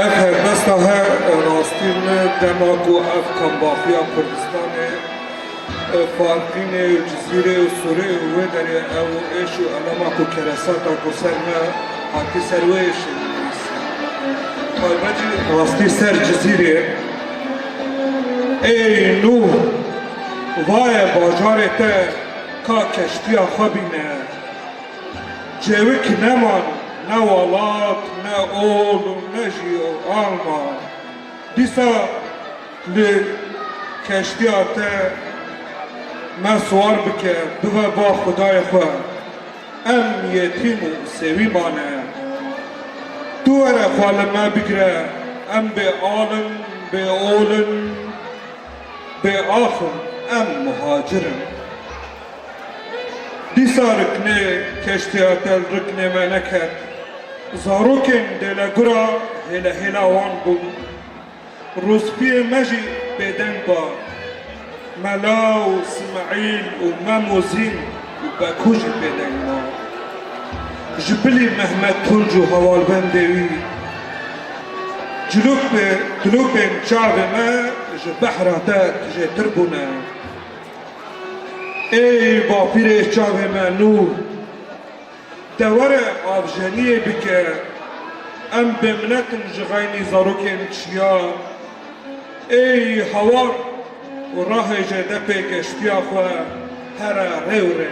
Ev helbesta her rastî ne dema ku ev kambaxiya Kurdistanê Farqînê û Cizîrê û Sûrê û wê derê ew êş û elama ku keresata ku ser me hatî ser wê êşê min nivîsî. Taybet jî rastî ser Cizîrê Ey nû vaye bajarê te ka keştiya xwe bîne. Cêwik neman ne welat, ne ol û ne jî alma. Dîsa li keştiya te me siwar bike bibe ba xwedayê xwe. Em yetîm û sewî mane. Tu were xwe li me bigire, em bê al in, bê ol in, bê ax in. Em muhacir in. Dîsa riknê keştiya del riknê me neket. Zarokên Delegura hêle hêla wan bûn. Rûspiyê me jî bêdeng ba. Mela û Simeîl û Mem û Zîn û Beku jî bêdeng ma. Ji bilî Mehmet Tunc û hewalbendê wî Cilûk be, Dilûkbên çavê me ji behra te tijêtir bûne. Ey bapîrê çavê me nûr te were avjeniyê bike em bêminet in ji xeynî zarokên çiya ey hawar û rahêje de pê keştiya xwe here rê û rê.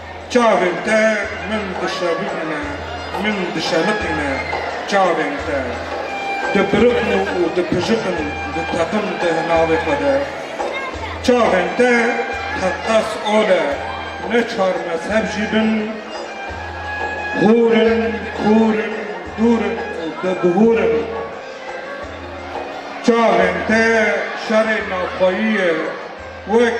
Çavên te min dişewitîne, min dişelitîne çavên te dipiriqin û dipijiqin diteqin di navê xwe de. Çavên te teqez ole ne çar mezheb jî bin hûr in, kûr in, dûr in û dibihûr in. Çavên te şerê navxweyî ye wek.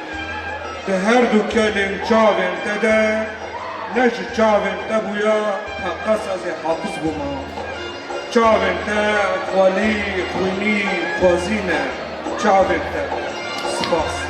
Di her du kelên çavên te de ne ji çavên te bûya teqez ez ê hafiz bûma. Çavên te xwelî, xwînî, xwezî ne. Çavên te. Spas.